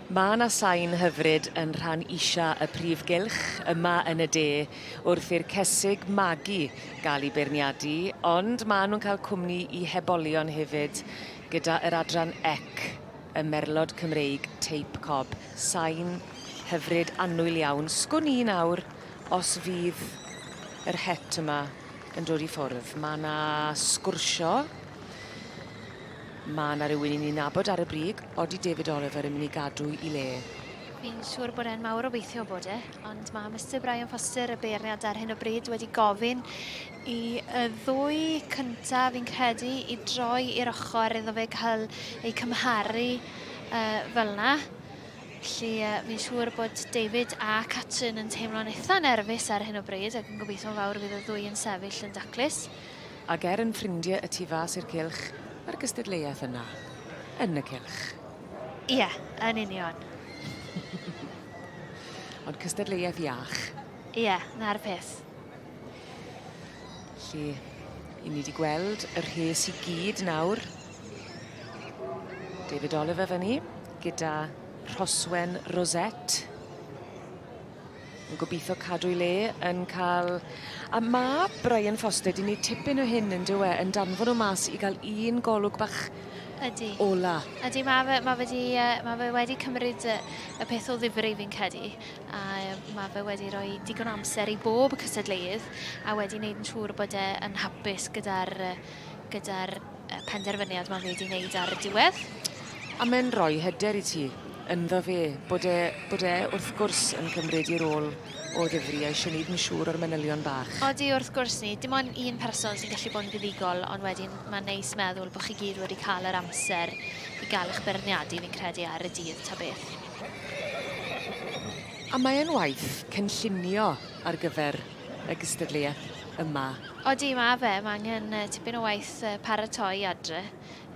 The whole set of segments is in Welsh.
Mae yna sain hyfryd yn rhan isa y prif gylch yma yn y de wrth i'r cesig magu gael ei beirniadu, ond maen nhw'n cael cwmni i hebolion hefyd gyda yr adran Ec, y merlod Cymreig teip cob. Sain hyfryd annwyl iawn. Sgwn i nawr os fydd yr het yma yn dod i ffwrdd. Mae yna sgwrsio. Mae 'na rywun i ni nabod ar y brig, odi David Oliver yn mynd i gadw i le? Fi'n siŵr bod e'n mawr obeithio bod e, ond mae Mister Brian Foster, y beirniad ar hyn o bryd, wedi gofyn i y ddwy cynta, fi'n credu, i droi i'r ochr iddo fe cael ei cymharu uh, fel na. Felly uh, fi'n siŵr bod David a Catrin yn teimlo'n eitha nerfus ar hyn o bryd ac yn gobeithio'n fawr fydd y ddwy yn sefyll yn daclus. Ag er yn ffrindie y tu fas i'r cylch, mae'r gystadleuaeth yna. Yn y cylch. Ie, yn union. Ond cystadleuaeth iach. Ie, 'na'r peth. Lle i ni 'di gweld y rhes i gyd nawr. David Oliver fynny gyda Rhoswen Rosette. Yn gobitho cadw'i le yn ca'l... A ma' Brian Foster 'di neud tipyn o hyn on'd yw e yn danfon o mas i ga'l un golwg bach... Ydi. ...ola. Ydi ma' fe ma' fe 'di yy ma' fe wedi cymryd y y peth o ddifri fi'n credu a yym ma' fe wedi roi digon o amser i bob cystadleuudd a wedi neud yn siŵr bod e yn hapus gyda'r yy gyda'r penderfyniad mae fe wedi wneud ar y diwedd. A mae'n rhoi hyder i ti ynddo fe, bod e, bod e wrth gwrs yn cymryd i'r ôl o ddifri a eisiau gwneud yn siŵr o'r manylion bach. Odi, wrth gwrs ni. Dim ond un person sy'n gallu bod yn fuddugol, ond wedyn mae'n neis meddwl bod chi gyd wedi cael yr amser i gael eich beirniadu, fi'n credu, ar y dydd ta beth. A mae e'n waith cynllunio ar gyfer y gystadleuaeth yma? Odi, mae fe. Mae angen tipyn o waith paratoi adre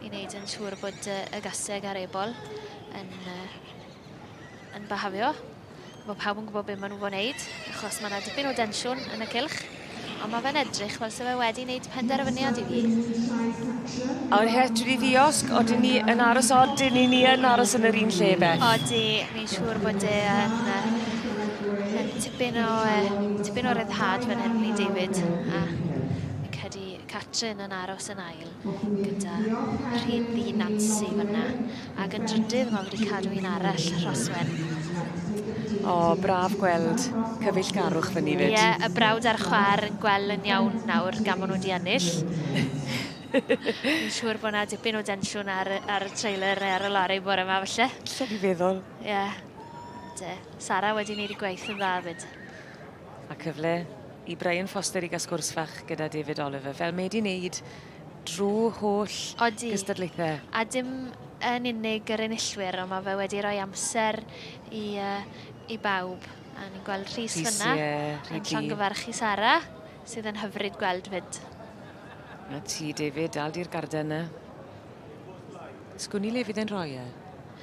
i wneud yn siŵr bod y gaseg a'r ebol yn, yn byhafio. Mae pawb yn gwybod beth maen nhw fod wneud, achos mae yna dipyn o densiwn yn y cilch. Ond mae fe'n edrych fel sef e wedi wneud penderfyniad i fi. A'r het wedi ddiosg, oedden ni yn aros odyn ni ni yn aros yn yr un lle beth. Odi, mi'n siŵr bod e yn Dipyn o, uh, dipyn o ryddhad fan hyn i David. A fi'n credu Catrin yn aros yn ail gyda rhyd ddi Nancy fyna. Ac yn drydydd mae wedi cadw un arall, Rhoswen. O, oh, braf gweld cyfeillgarwch fyny fyd. Ie, yeah, y brawd a'r chwar yn gweld yn iawn nawr gan maen nhw wedi ennill. Fi'n siŵr bod yna dipyn o densiwn ar, ar y trailer neu ar y lorry bore yma, felly. Lle fi feddwl. Ie. Yeah. Sara wedi neud i gwaith yn dda fyd. A cyfle i Brian Foster i gael sgwrs fach gyda David Oliver, fel mae wedi wneud drwy holl Odi. gystadlaethau. A dim yn unig yr enillwyr, ond mae fe wedi rhoi amser i, uh, i bawb. A ni'n gweld Rhys fyna, yeah, yn llongyfarchu Sara, sydd yn hyfryd gweld fyd. A ti, David, dal di'r garden yna. Sgwn i le fydd e'n rhoi e?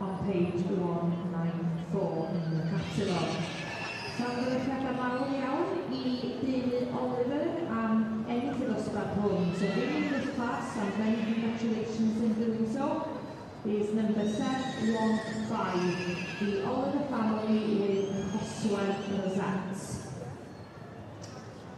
On page one nine four yn y catalog. Llongyfarchiadau mawr iawn i deulu Oliver am ennill y ddosbarth hwn. So ddim yn uffas and many congratulations in doing so is number sev one five, the Oliver family with Rhoswell Rosettes.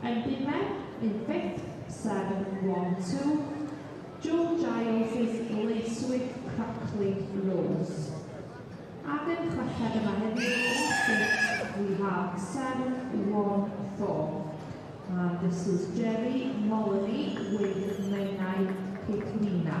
Yn bumed yn fifth, seven, one, two, Joe Giles' Lacewick Crackling Rose. Ac yn chweched yma heddiw yn sixth we have seven, one, four, and this is Jerry Molony with Menai Cythlina.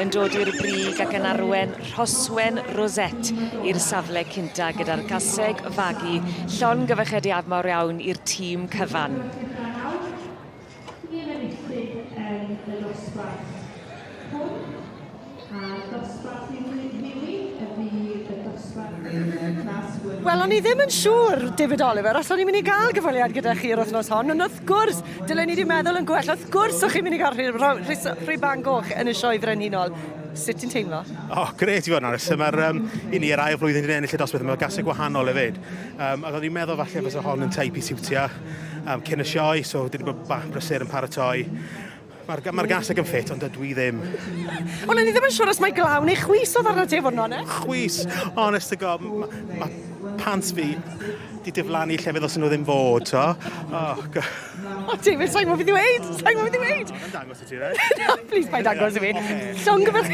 yn dod i'r brig ac yn arwen Rhoswen Rosette i'r safle cynta gyda'r gaseg fagu llon gyfychediad mawr iawn i'r tîm cyfan. Wel o'n i ddim yn siŵr, David Oliver, os o'n i'n mynd i gael cyfweliad gyda chi yr wythnos hon, ond wrth Wrth gwrs! Dylen ni 'di meddwl yn gwell. Wrth gwrs o'ch chi'n mynd i gael rhy- rho- rhys- rhy bang goch yn y Sioe Frenhinol. Sut ti'n teimlo? O, oh, gret i fod yn onest. Mae'r um, i ni yr ail flwyddyn yn ennill y dosbarth yma, gasau gwahanol hefyd. Um, ac oedd i'n meddwl falle fes o hon yn teip i siwtio um, cyn y sioe, so dwi wedi bod bach brysur yn paratoi. Mae'r ga- mae'r gaseg yn ffit, ond dydw i ddim. Ond o'n i ddim yn siŵr os mae glaw neu chwys oedd arno ti i fod yn onest. Chwys! Honest to God, mae ma pants fi di diflannu llefydd os nhw ddim fod, to. Oh, go- O, David, sa'n gwybod beth i weid! Sa'n gwybod beth i weid! Mae'n dangos i ti, right? Na, please, paid agos i fi. Llongyfarch...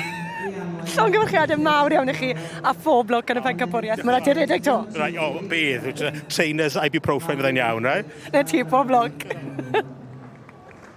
Llongyfarchiadau mawr iawn i chi a phob lwc yn y pencampwriaeth. Mae'n rhaid i redeg to. Right, o, bydd. Tra- Trainers ibuprofen fyddai'n iawn, right? Na ti, pob lwc.